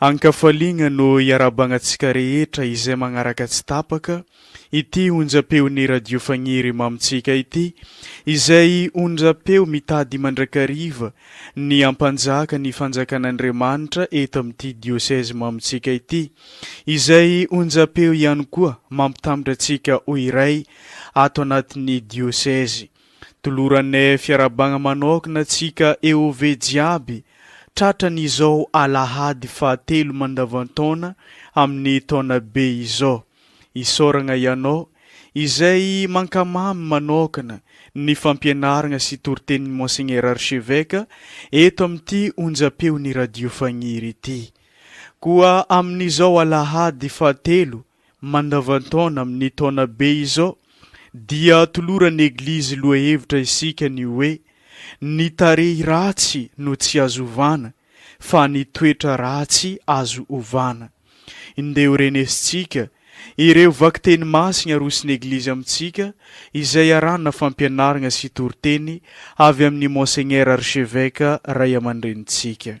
An-kafaliana no iarabagna antsika rehetra izay magnaraka tsy tapaka ity onjam-peon'ny Radio Fagniry Mamintsika ity, izay onjam-peo mitady mandrakariva ny hampanjaka ny Fanjakan'Andriamanitra eto amin'ity Diocèse Mamintsika ity, izay onjam-peo ihany koa mampitambitra antsika ho iray ato anatin'ny Diocèse. Toloranay fiarabagna manokana tsika EOV jiaby tratrany izao alahady faha telo mandavantaona amin'ny taona be izao. Isaoragna ianao izay mankamamy manokana ny fampianaragna sy toritenin'i Monseigneur Archeveque eto amin'ity onjam-peon'i Radio Fagniry ity. Koa amin'izao alahady faha telo mandavantaona amin'ny taona be izao dia atoloran'ny Eglizy lohahevitra isika ny hoe, Ny tarehy ratsy no tsy azo ovana fa ny toetra ratsy azo ovana. Indeo renesintsika ireo vakiteny masina aroson'ny Eglizy amintsika izay arahana fampianarana sy toriteny avy amin'ny Monseigneur Archevêque Ray aman-drenintsika.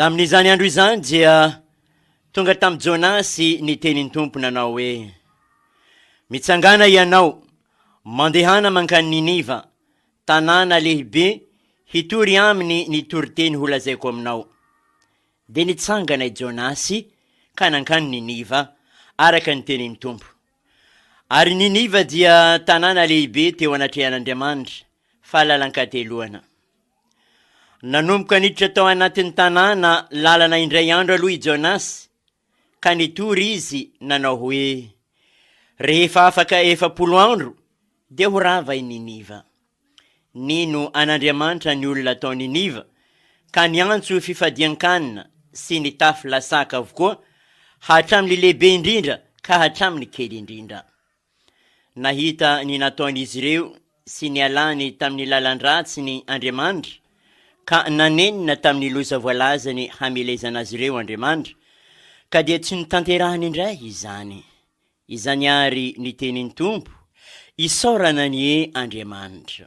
Tamin'izany andro izany dia tonga tamin'i Jonasy ny tenin'ny Tompo nanao hoe, Mitsangàna ianao, mandehana mankany Niniva, tanàna lehibe, hitory aminy ny toriteny holazaiko aminao. Dia nitsangana i Jonasy ka nankany Niniva, araka ny tenin'ny Tompo. Ary Niniva dia tanàna lehibe teo anatrehan'Andriamanitra, fa lalan-kateloana. Nanomboka niditra tao anatin'ny tanàna lalana indray andro aloha i Jonas, ka nitory izy nanao hoe, Rehefa afaka efapolo andro, dia ho rava i Niniva. Nino an'Andriamanitra ny olona tao Niniva, ka niantso fifadian-kanina sy nitafy lasaka avokoa, hatramin'ny lehibe indrindra ka hatramin'ny kely indrindra. Nahita ny nataon'izy ireo sy nialany tamin'ny lalan-dratsiny Andriamanitra, ka nanenina tamin'ny loza voalazany hamelezana azy ireo Andriamanitra, ka dia tsy notanterahany indray izany. Izany àry ny tenin'ny Tompo, Isaorana anie Andriamanitra!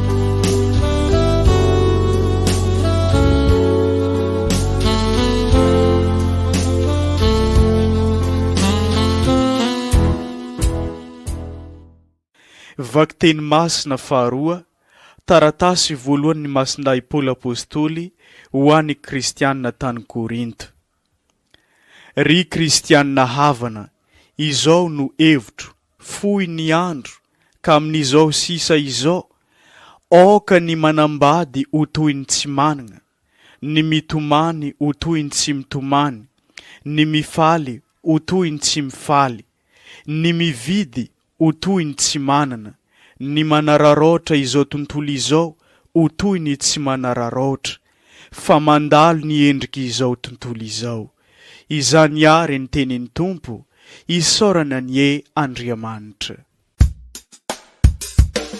Vakiteny masina faharoa, Taratasy voalohan' ny Masindahy Paoly Apôstôly ho an' ny Kristiana tany Korinto. Ry kristianina havana, izao no hevitro, fohy ny andro, ka amin'izao sisa izao, aoka ny manambady ho toy ny tsy manana, ny mitomany ho toy ny tsy mitomany, ny mifaly ho toy ny tsy mifaly, ny mividy ho toy ny tsy manana, ny manararaotra izao tontolo izao ho toy ny tsy manararaotra, fa mandalo ny endrik' izao tontolo izao. Izany àry ny tenin' ny Tompo, isaorana anie Andriamanitra.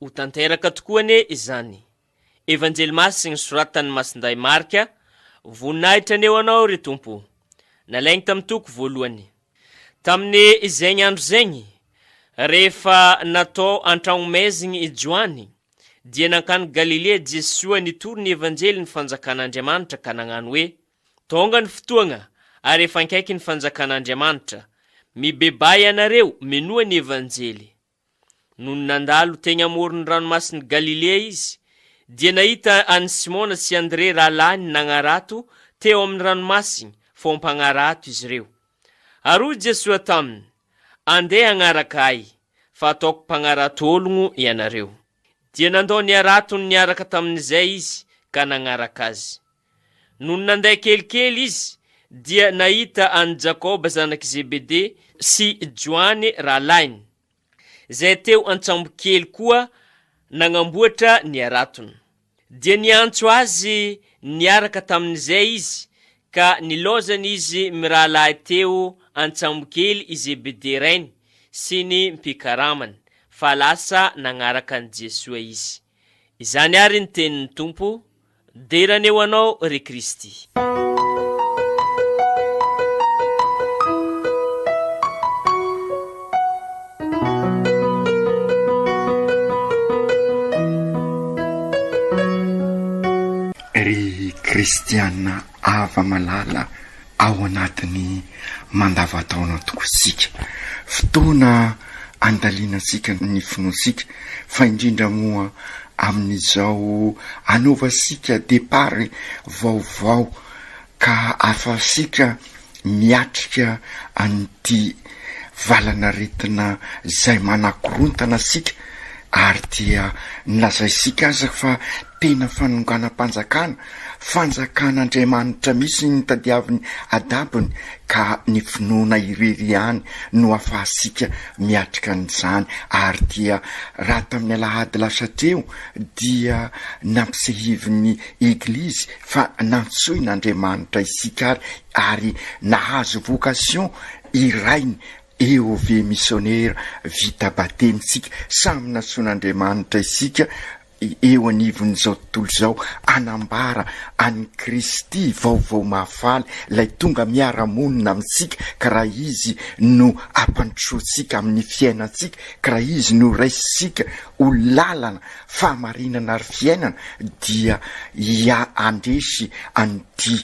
Ho tanteraka tokoa anie izany. Evanjely masiny soratan'i Masindahy Marka, Voninahitra ny eo anao ry Tompo. Nalainy tamin'ny toko voalohany. Tamin'ny zegny andro zegny, rehefa natao an-tragnomezigny i Joany, dia nankany Galilia Jesoa nitory ny Evanjelin'ny Fanjakan'Andriamanitra ka nagnano hoe, Tonga ny fotoagna ary efa ankaiky ny Fanjakan'Andriamanitra. Mibebahy ianareo minoa ny Evanjely. Nony nandalo teny amoron'ny Ranomasin'i Galilea izy, dia nahita an'i Simona sy Andrea rahalahiny nagnarato teo amin'ny ranomasiny, vao mpagnarato izy ireo. Ary hoy Jesoa taminy, Andeha hagnaraka Ahy, fa hataoko mpagnarato ologno ianareo. Dia nandao ny haratony niaraka tamin'izay izy ka nagnaraka Azy. Nony nandeha kelikely izy, dia nahita an'i Jakoba zanak'i Zebede sy Joany rahalahiny, izay teo an-tsambokely koa nagnamboatra ny haratony. Dia niantso azy niaraka tamin'izay izy, ka nilaozany izy mirahalahy teo an-tsambokely i Zebede rainy sy ny mpikaramany, fa lasa nagnaraka an'i Jesoa izy. Izany àry ny tenin'ny Tompo, Dera ny eo anao, ry Kristy. Ry Kristiana Hava-malala ao anatin'ny mandava-taona tokoa isika. Fotoana andalianantsika ny finoantsika, fa indrindra moa amin'izao anaovantsika départ vaovao ka ahafahantsika miatrika an'ity valan'aretina izay manakorontana antsika ary dia nolazaintsika aza fa Tena fanonganam-panjakana, fanjakan'Andriamanitra mihitsy ny tadiavin'i Adabony ka ny finoana irery ihany no afahantsika miatrika an'izany ary dia raha tamin'ny alahady lasa teo dia nampisehivin'ny Eglizy fa nantsoin'Andriamanitra isika ary nahazo vocation irainy eo ve misionera vita batemy isika, samy nantsoin'Andriamanitra isika eo anivon'izao tontolo izao hanambara an'i Kristy vaovao mahafaly, ilay tonga miara-monina amintsika ka raha Izy no ampandrosoantsika amin'ny fiainantsika, ka raha Izy no raisintsika ho lalana, fahamarinana ary fiainana dia handresy an'ity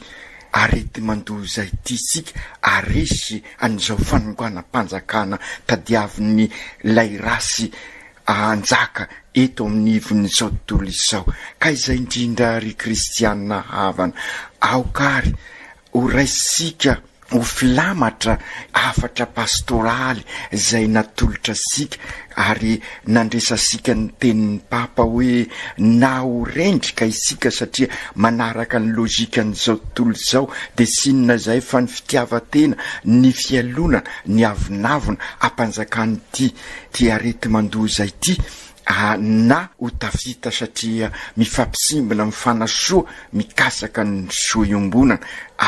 areti-mandoza ity isika, haresy an'izao fanonganam-panjakana tadiavin'ilay race hanjaka eto amin'ny ivon'izao tontolo izao. Ka izay indrindra ry kristiana havana, aoka ary ho raisika ho filamatra hafatra pastoraly izay natolotra antsika ary nandresantsika ny tenin'ny Papa hoe, na ho rendrika isika satria manaraka ny logikan'izao tontolo izao dia tsy inona izay fa ny fitiavan-tena, ny fialonana, ny avonavona hampanjakana ity Ty areti-mandoza ity aa na ho tafita satria mifampisimbina amin'ny fanasoa mikasaka ny soa iombonana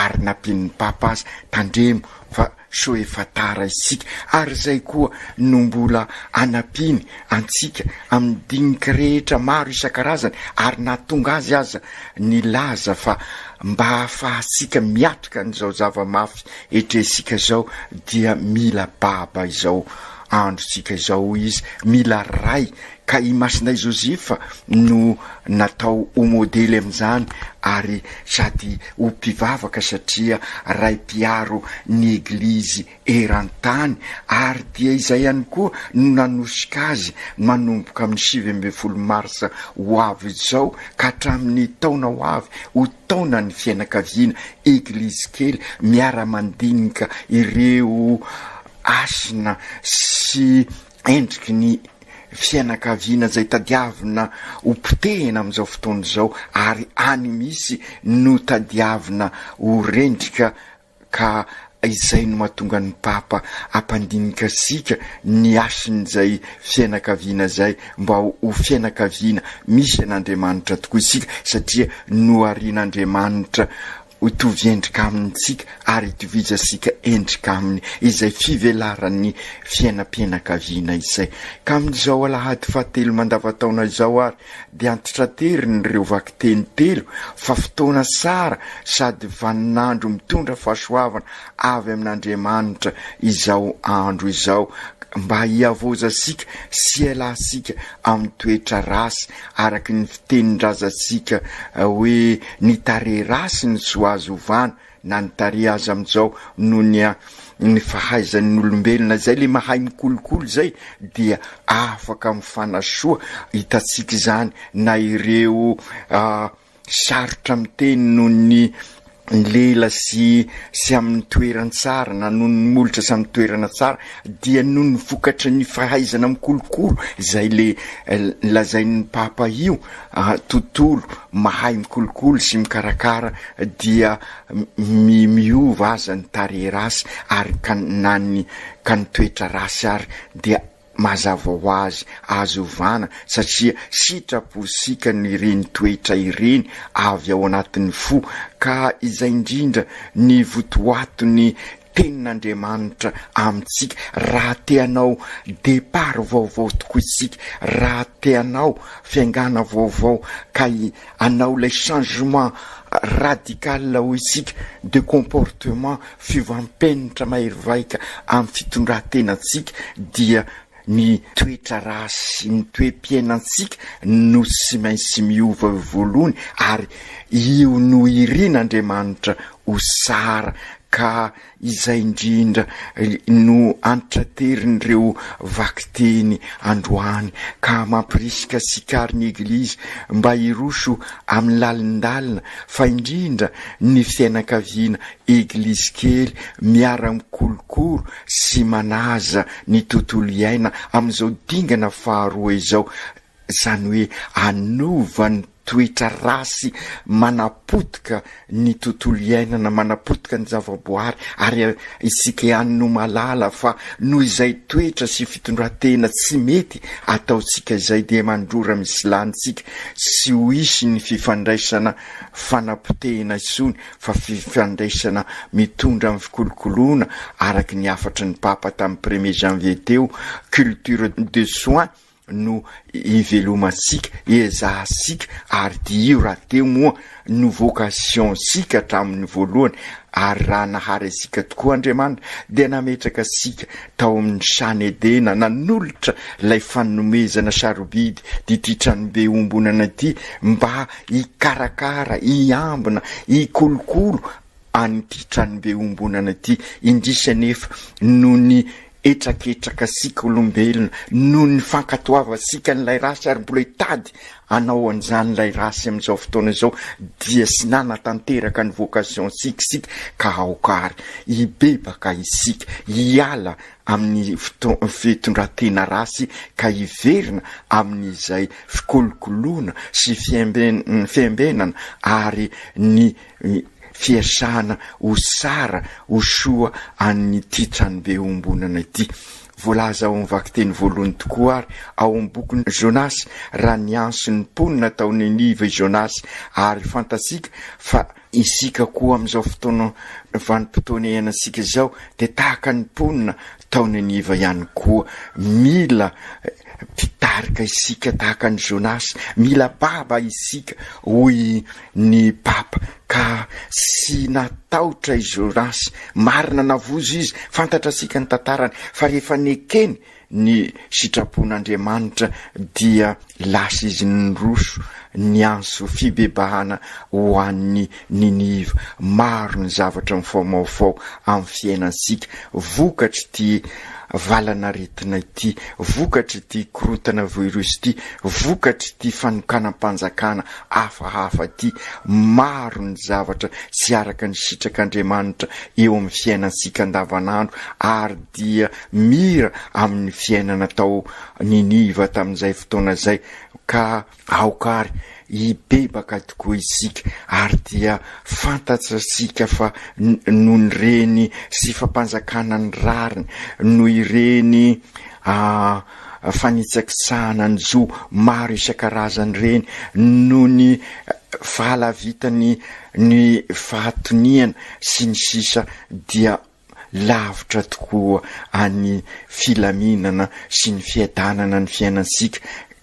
ary nampian'ny Papa aza tandremo fa sao efa tara isika ary izay koa no mbola anampiany antsika amin'ny dinika rehetra maro isan-karazany ary nahatonga azy aza nilaza fa mba hahafahantsika miatrika an'izao zava-mafy etrehintsika izao dia mila baba izao androntsika izao hoy izy, mila ray, ka i Masinay Joseph no natao ho modely amin'izany ary sady ho mpivavaka satria ray mpiaro ny Eglizy eran-tany ary dia izay ihany koa no nanosika azy manomboka amin'ny sivy ambin'ny folo marsa ho avy izao ka hatramin'ny taona ho avy ho taonan'ny fianakaviana Eglizy kely miara-mandinika ireo hasina sy endriky ny fianakaviana izay tadiavina ho potehina amin'izao fotoana izao ary any misy no tadiavina ho rendrika ka izay no mahatonga ny Papa hampandinika antsika ny hasin'izay fianakaviana izay mba ho fianakaviana misy an'Andriamanitra tokoa isika satria noharian'Andriamanitra Hotovy endrika amintsika ary itovizasika endrika aminy izay fivelaran'ny fiainam-pianakaviana izay. Ka amin'izao alahady fahatelo mandavantaona izao ary dia antitraterin'ireo vakiteny telo fa fotoana tsara sady vaninandro mitondra fahasoavana avy amin'Andriamanitra izao andro izao mba hihavozasika sy hialasika amin'ny toetra ratsy Araka ny fitenin-drazantsika hoe ny tarehy ratsiny tsy azo ovana na ny tarehy aza amin'izao noho ny ny fahaizan'ny olombelona izay le mahay mikolokolo izay dia afaka mifanasoa, hitantsika izany na ireo sarotra miteny noho ny lela sy sy amin'ny toeran-tsary na noho ny molotra sy amin'ny toerana tsara dia noho ny vokatry ny fahaizana mikolokolo izay le lazain'ny papa io tontolo mahay mikolokolo sy mikarakara dia mi miova aza ny tarehy race ary ka na ny ka ny toetra race ary dia Mazava ho azy azo ovana satria sitraposikan'ireny toetra ireny avy ao anatin'ny fo ka izay indrindra ny votoaton'ny Tenin'Andriamanitra amintsika raha te hanao départ vaovao tokoa isika, raha te hanao fiaingàna vaovao ka hanao ilay changement radical hoy isika de comportement fiovampenitra mahery vaika amin'ny fitondrantenantsika dia ny toetra raha sy ny toe-piainantsika no sy mainsy miova eo voalohany ary io no irin'Andriamanitra ho sara ka Izay indrindra no antitranterin'ireo vakiteny androany ka mampirisika sikarin' ny Eglizy mba hiroso amin'ny lalindalina fa indrindra ny fianakaviana Eglizikely miara-mikolokoro sy manaja ny tontolo iaina amin'izao dingana faharoa izao, izany hoe anovan'ny. Toetra ratsy manapotika ny tontolo iainana, manapotika ny zavaboary, ary isika ihany no mahalala fa noho izay toetra sy fitondratena tsy mety ataontsika izay dia mandrora misy lanintsika sy ho hisy ny fifandraisana fanapotehina intsony fa fifandraisana mitondra amin'ny fikolokoloana araka ny hafatry ny Papa tamin'ny premier janvier teo, culture de soins. no ivelomantsika, ezahantsika ary diio rahateo moa no vocation-tsika hatramin'ny voalohany ary raha nahary antsika tokoa Andriamanitra dia nametraka antsika tao amin'ny Sany Edena nanolotra ilay fanomezana sarobidy d'ity tranobe iombonana ity mba hikarakara, hiambina, hikolokolo an'ity tranobe iombonana ity, indrisy anefa noho ny hetraketrakansika olombelona, noho ny fankatoavantsika an'ilay ratsy ary mbola hitady hanao an'izany ilay ratsy amin'izao fotoana izao dia tsy nanatanteraka ny vocation-tsika isika ka aoka ary hibebaka isika hiala amin'ny fitondran-tena ratsy ka hiverina amin'izay fikolokoloana sy fiembenana ary ny ny fiesahana ho tsara ho soa an'ity tranobe iombonana ity. Voalaza ao amin'ny vakiteny voalohany tokoa àry ao amin'ny bokin'i Jonasy, raha niantso ny mponina tao Niniva i Jonasy, ary fantatsika fa isika koa amin'izao fotoana vanim-potoana iainantsika izao dia tahaka ny mponina tao Niniva ihany koa, mila Mpitarika isika tahaka an'i Jonasy, mila baba isika, hoy ny Papa, ka tsy natahotra i Jonasy. Marina, navozo izy, fantatrasika ny tantarany, fa rehefa nekeny ny sitrapon'Andriamanitra dia lasa izy niroso, niantso fibebahana ho an'ny Niniva. Maro ny zavatra mifaomaofao amin'ny fiainantsika vokatr'ity valan'aretina ity, vokatr'ity korontana virus ity, vokatr'ity fanokanam-panjakana hafahafa ity. Maro ny zavatra tsy araka ny sitrak'Andriamanitra eo amin'ny fiainantsika andavanandro ary dia mira amin'ny fiainana tao Niniva tamin'izay fotoana izay ka Aoka àry hibebaka tokoa isika, ary dia fantatsika fa noho ny reny sy fampanjakana ny rariny, noho ireny fanitsakitsahana ny zo maro isan-karazany ireny, noho ny fahalavitany ny fahatoniana, sy ny sisa, dia lavitra tokoa an'ny filaminana sy ny fiadanana ny fiainantsika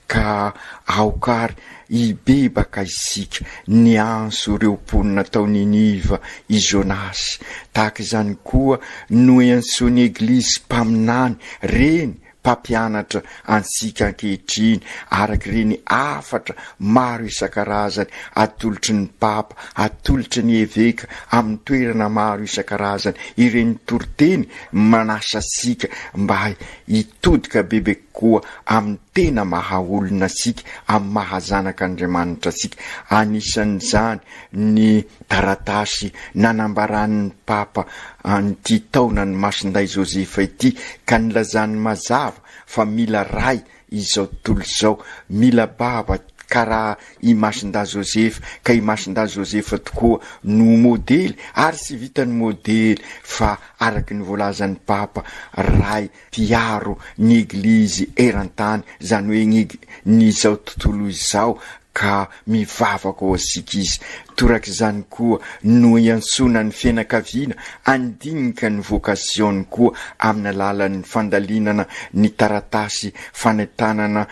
ka aoka ary hibebaka isika. Niantso ireo mponina tao Niniva i Jonasy. Tahaka izany koa no iantsoan'ny Eglizy mpaminany, reny, mpampianatra antsika ankehitriny araka ireny hafatra maro isan-karazany atolotry ny Papa, atolotry ny Eveka amin'ny toerana maro isan-karazany ireny toriteny manasa antsika mba hitodika bebe kokoa amin'ny tena maha-olona antsika, amin'ny maha-zanak'Andriamanitra antsika. Anisan'izany ny taratasy nanambaran'ny Papa an'ity taonan'i Masindahy Joseph ity ka nilazany mazava fa mila ray izao tontolo izao, mila baba karaha i Masindahy Joseph ka i Masindahy Joseph tokoa no modely ary tsy vitan'ny modely fa araky ny voalazan'ny Papa ray hiaro ny Eglizy eran-tany, izany hoe ny izao tontolo izao, ka mivavaka ho antsika izy. Toraka izany koa no iantsoana ny fianakaviana handinika ny vocation-ny koa amin'ny alalan'ny fandalinana ny taratasy fanentanana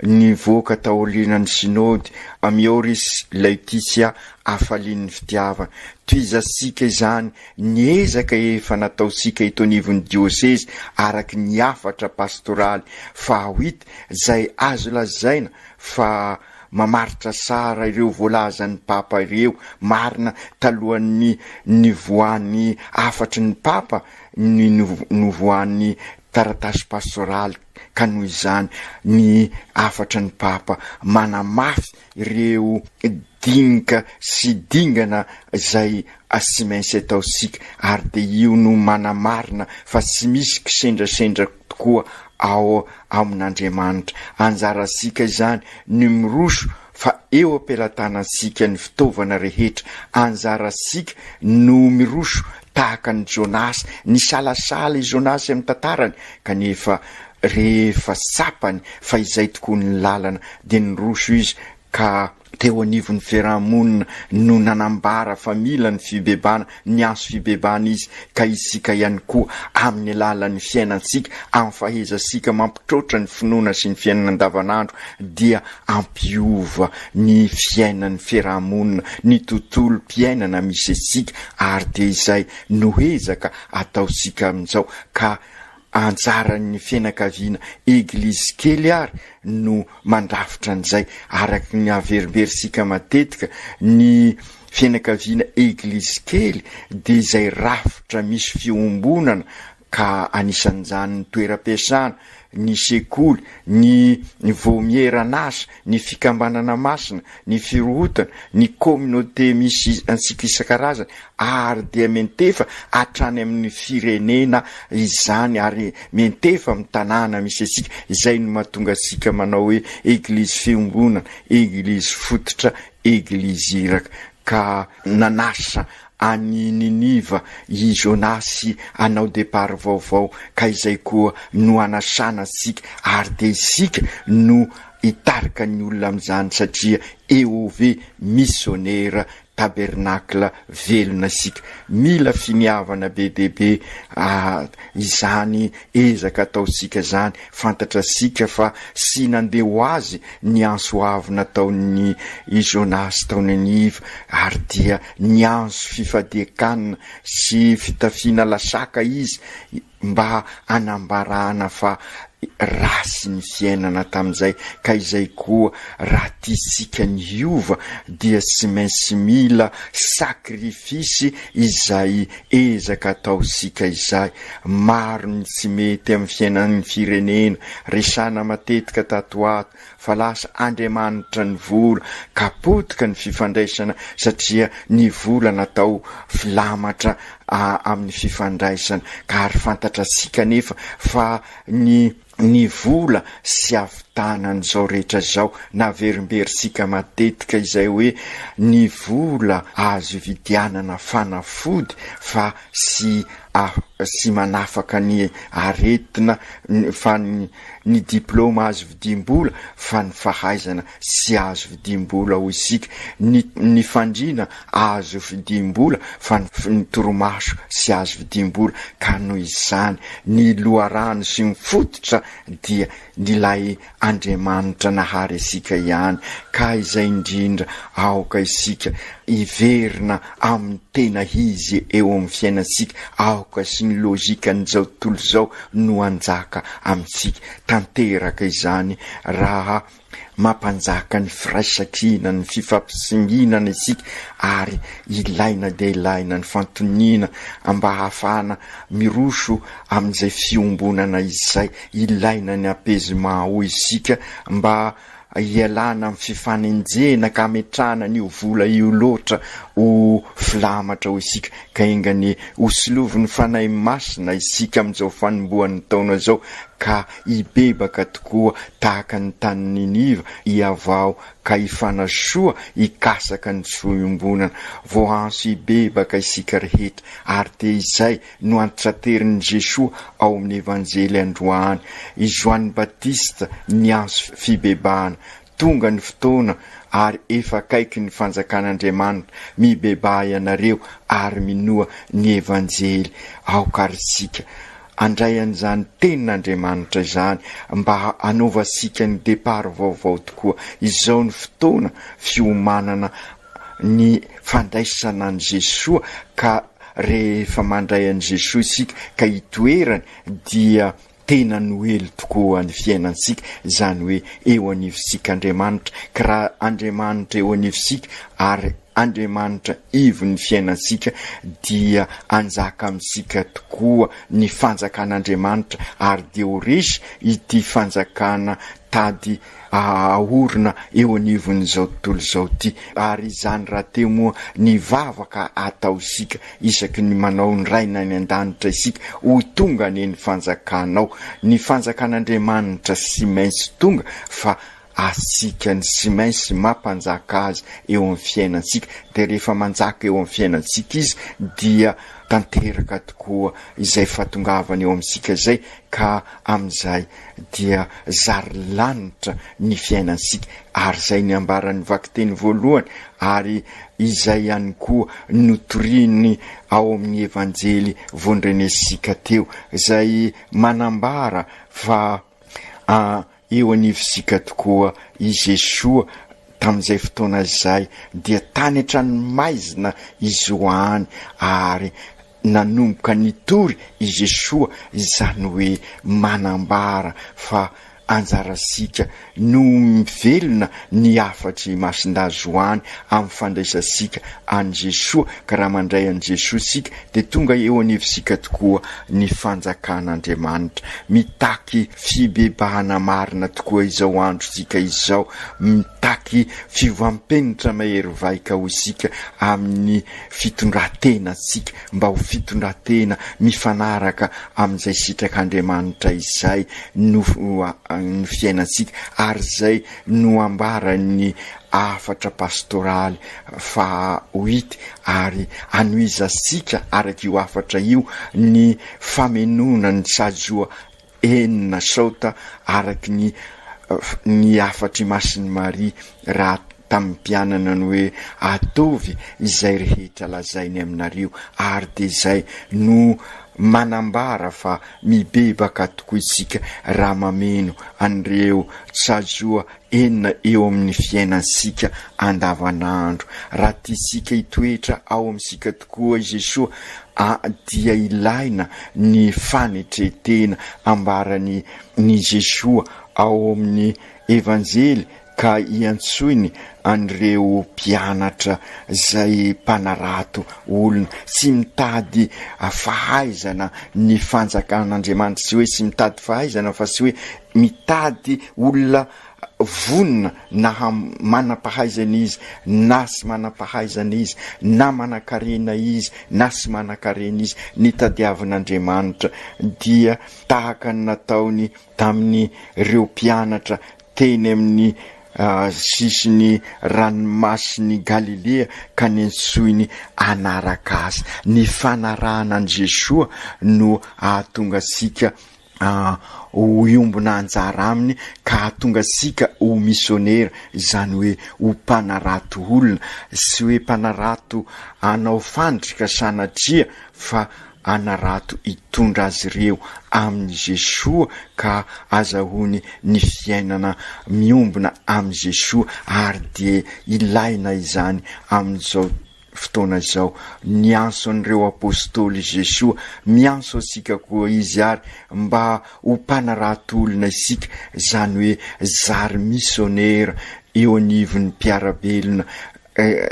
nivoaka taorianan'ny Synody Amoris Laetitia, Hafalian'ny Fitiavana. Tohizantsika izany Ny ezaka efa nataontsika eto anivon'ny diosezy araky ny hafatra pastoraly fahaoita izay azo lazaina fa mamaritra sara ireo voalazan'ny Papa ireo, marina talohan'ny nivoahan'ny hafatry ny Papa ny novoahan'ny taratasy pastoraly ka noho izany ny hafatry ny Papa manamafy ireo dinika sy dingana izay tsy maintsy ataontsika ary dia io no manamarina fa tsy misy kisendrasendra tokoa ao amin'Andriamanitra. Anjarantsika izany ny miroso fa eo am-pelatanantsika ny fitaovana rehetra. Anjarantsika no miroso tahaka an'i Jonasy. Nisalasala i Jonasy amin'ny tantarany kanefa Rehefa tsapany fa izay tokoa ny lalana dia niroso izy ka teo anivon'ny fiaraha-monina no nanambara fa mila ny fibebana, niantso fibebana izy ka isika ihany koa amin'ny alalan'ny fiainantsika amin'ny fahaizasika mampitroatra ny finoana sy ny fiainana andavanandro dia ampiova ny fiainan'ny fiaraha-monina ny tontolom-piainana misy antsika ary dia izay no ezaka ataontsika amin'izao ka Anjaran'ny fianakaviana Eglizy kely ary no mandrafitra an'izay. Araka ny averimberintsika matetika, ny fianakaviana Eglizy kely dia izay rafitra misy fiombonana, ka anisan'izany ny toeram-piasana, ny sekoly, ny voamieran'asa, ny fikambanana masina, ny firohotana, ny communauté misy antsika isan-karazany ary dia miantefa hatrany amin'ny firenena izany ary miantefa amin'ny tanàna misy antsika, izay no mahatonga antsika manao hoe Eglizy Fiombonana, Eglizy Fototra, Eglizy Iraka. Ka nanasa any Niniva i Jonasy hanao départ vaovao ka izay koa no hanasana antsika ary dia isika no hitarika ny olona amin'izany satria EOV Missionnaire Tabernacle velona isika. Mila finiavana be dia be izany ezaka ataontsika izany, fantatrasika fa sy nandeha ho azy ny antso avo nataon'i Jonasy tao Niniva ary dia Niantso fifadian-kanina sy fitafiana lasaka izy mba hanambarana fa ratsy ny fiainana tamin'izay ka izay koa raha tiantsika ny hiova dia tsy maintsy mila sakrifisy izay ezaka ataontsika izay. Maro ny tsy mety amin'ny fiainan'ny firenena. Resahina matetika tato ho ato fa lasa andriamanitra ny vola ka potika ny fifandraisana satria ny vola natao filamatra amin'ny fifandraisana ka ary fantatratsika anefa fa ny ny vola sy havitanan'izao rehetra izao naverimberintsika matetika izay hoe ny vola azo ividianana fanafody fa sy Ah, sy manafaka ny aretina fa ny diploma azo vidiam-bola fa ny fahaizana tsy azo vidiam-bola hoy isika, ny ny fandriana azo vidiam-bola fa ny torimaso tsy azo vidiam-bola ka noho izany ny loharano sy ny fototra dia ilay Andriamanitra nahary antsika ihany ka izay indrindra aoka isika hiverina amin'ny tena Izy eo amin'ny fiainantsika, aoka sy ny logikan'izao tontolo izao no hanjaka amintsika. Tanteraka izany raha mampanjaka ny firaisankina, ny fifampisinginana isika ary ilaina dia ilaina ny fantoniana mba hahafahana miroso amin'izay fiombonana izay. Ilaina ny apaisement hoy isika mba hialana amin'ny fifanenjehina ka hametrahana an'io vola io loatra ho filamatra hoy isika ka enga anie hosolovin'ny Fanahy Masina isika amin'izao fanombohan'ny taona izao ka hibebaka tokoa tahaka ny tany Niniva hihavao ka hifanasoa hikasaka ny soa iombonana voahanso hibebaka isika rehetra ary dia izay no antitranterin'i Jesoa ao amin'ny Evanjely androany, i Joany Batista niantso fibebahana, tonga ny fotoana ary efa akaiky ny fanjakan'Andriamanitra, mibebaha ianareo ary minoa ny Evanjely aoka ary isika andray an'izany tenin'Andriamanitra izany mba hanaovasika ny depart vaovao tokoa, izao ny fotoana fiomanana ny fandraisana an'i Jesoa ka rehefa mandray an'i Jesoa isika ka hitoerany dia tena noely tokoa ny fiainantsika izany hoe eo anivontsika Andriamanitra ka raha Andriamanitra eo anivontsika ary Andriamanitra ivon'ny fiainantsika dia hanjaka amintsika tokoa ny fanjakan'Andriamanitra ary dia ho resy ity fanjakana tady ahaorina eo anivon'izao tontolo izao ity. Ary izany rahateo moa ny vavaka ataontsika isaky ny manao ny Rainay any An-danitra isika, Ho tonga anie ny fanjakanao. Ny fanjakan'Andriamanitra sy maintsy tonga fa antsika ny sy maintsy mampanjaka azy eo amin'ny fiainantsika. Dia rehefa manjaka eo amin'ny fiainantsika izy dia tanteraka tokoa izay fahatongavany eo amintsika izay ka amin'izay dia zary lanitra ny fiainantsika, ary izay niambaran'ny vakiteny voalohany ary izay ihany koa notoriny ao amin'ny Evanjely vondrenesika teo, izay manambara fa eo anivontsika tokoa i Jesoa tamin'izay fotoana izay, dia tany hatrany maizina izy ho any ary. Nanomboka nitory i Jesoa izany hoe manambara fa anjarantsika no mivelona ny hafatr'i Masindahy Zohany amin'ny fandraisantsika an'i Jesoa, ka raha mandray an'i Jesoa isika dia tonga eo anivontsika tokoa ny fanjakan'Andriamanitra. Mitaky fibebahana marina tokoa izao androntsika izao, mitaky fiovam-penitra mahery vaika ho isika amin'ny fitondran-tenantsika mba ho fitondran-tena mifanaraka amin'izay sitrak'Andriamanitra izay no fiainantsika ary izay no ambaran'ny hafatra pastoraly faha huit ary anohizantsika araka io hafatra io ny famenoana ny sajoa enina saota araky ny ny hafatr' i Masiny Maria raha tamy mpianana ny hoe ataovy izay rehetra lazainy aminareo ary dia izay no manambara fa mibebaka tokoa isika raha mameno an'ireo tsazoa enina eo amin' ny fiainansika andavanandro. Raha tiantsika hitoetra ao amintsika tokoa i Jesoa, a dia ilaina ny fanetren-tena ambaran' i Jesoa ao amin' ny Evanjely ka iantsoiny an' ireo mpianatra izay mpanarato olona tsy mitady fahaizana ny Fanjakan' Andriamanitra, tsy hoe tsy mitady fahaizana fa tsy hoe mitady olona vonona na manam-pahaizana izy na tsy manam-pahaizana izy, na manan-karena izy na tsy manan-karena izy, ny tadiavin'Andriamanitra dia tahaka ny nataony tamin'ireo mpianatra teny amin'ny sisin'ny ranomasin'i Galilea ka nentsoiny hanaraka Azy. Ny fanarahana an'i Jesoa no hahatonga antsika ho hiombona anjara aminy ka hahatonga antsika ho misionera, izany hoe ho mpanarato olona, tsy hoe mpanarato hanao fandrika sanatria fa hanarato hitondra azy ireo amin'i Jesoa ka hazahoany ny fiainana miombona amin'i Jesoa ary dia ilaina izany amin'izao fotoana izao. Niantso an'ireo Apostoly i Jesoa, miantso antsika koa Izy ary mba ho mpanarato olona isika, izany hoe zary misionera eo anivon'ny mpiara-belona,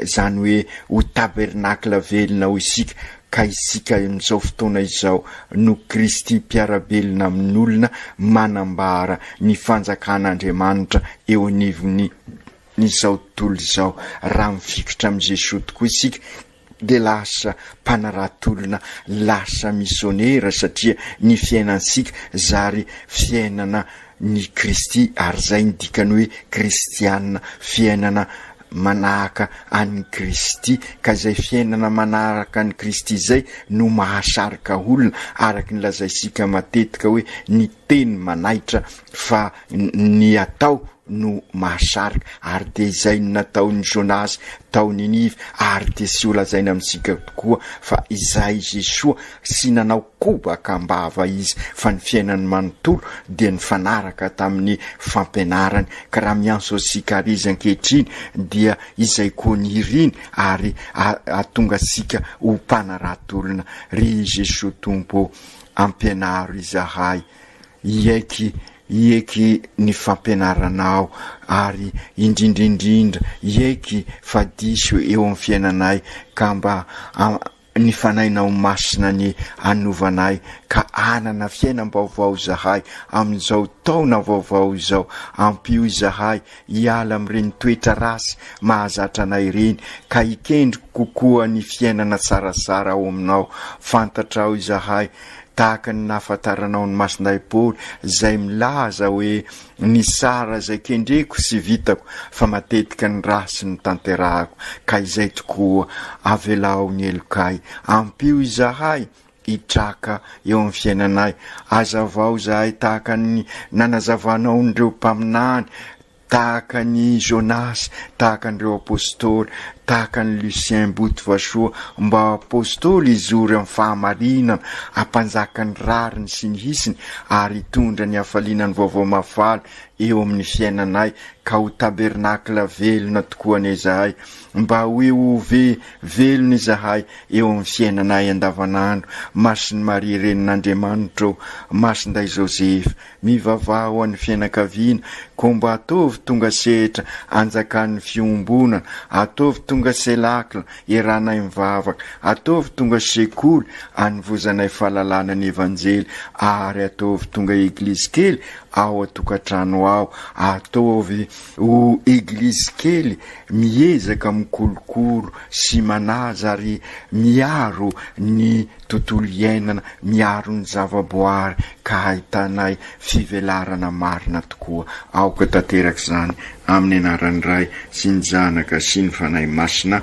izany hoe ho tabernacle velona ao isika, ka isika amin'izao fotoana izao no Kristy mpiara-belona amin'olona manambara ny fanjakan'Andriamanitra eo anivon'ny. Izao tontolo izao, raha mifikitra amin'i Jesoa tokoa isika dia lasa mpanarato olona, lasa misionera satria ny fiainantsika zary fiainana ny Kristy ary izay ny dikany hoe kristiana, fiainana manahaka an'i Kristy, ka izay fiainana manaraka an'i Kristy izay no mahasarika olona araky ny lazaisika matetika hoe ny teny manaitra fa ny atao no mahasarika, ary dia izay no nataon'i Jonas tao Ninive, ary dia sy holazaina amintsika tokoa fa izay i Jesoa, sy nanao kobaka am-bava Izy fa ny fiainany manontolo dia nifanaraka tamin'ny fampianarany, ka raha miantso antsika àry Izy ankehitriny dia izay koa ny iriny, ary hahatonga antsika ho mpanarato olona, Ry Jesoa Tompo ô, ampianaro izahay hiaiky Hiaiky ny fampianarana aho ary indrindra indrindra hiaiky fa diso eo amin'ny fiainanay ka mba ny Fanahinao Masina ny hanovana ahy ka hanana fiainam-baovao izahay amin'izao taona vaovao izao. Ampio izahay hiala amin'ireny toetra ratsy mahazatra anay ireny, ka hikendry kokoa ny fiainana tsaratsara ao Aminao. Fantatrao izahay, tahaka ny nahafantaranao ny masonay Paoly, izay milaza hoe, Nitsara izay kendreko sy vitako, fa matetika ny ratsy no tanterahako. Ka izay tokoa, avelao ny helokay. Ampio izahay, hitraka eo amin'ny fiainanay. Hazavao izahay tahaka ny nanazavanao an'ireo mpaminany, tahaka an'i Jonasy, tahaka an'ireo apostoly, tahaka an'i Lucien Botovasoa, mba ho apostoly hizory amin'ny fahamarinana, hampanjaka ny rariny sy ny hisiny ary hitondra ny hafaliana ny Vaovao Mahafaly eo amin'ny fiainanay ka ho tabernacle velona tokoa anie izahay. Mba ho eo ho ve velona izahay eo amin'ny fiainanay andavanandro, Masin'i Maria Renin'Andriamanitra ô, Masindahy Joseph, mivavaha ho an'ny fianakaviana, koa mba ataovy tonga sehatra anjakan'ny fiombonana, ataovy tonga celacle eranay mivavaka, ataovy tonga sekoly anovozanay fahalalana ny Evanjely, ary ataovy tonga eglizy kely ao an-tokantrano ao, ataovy O Eglizy kely miezaka mikolokolo sy manaja ary miaro ny tontolo iainana, miaro ny zavaboary ka hahitanay fivelarana marina tokoa. Aoka tanteraka izany amin'ny anaran'ny Ray sy ny Zanaka sy ny Fanahy Masina.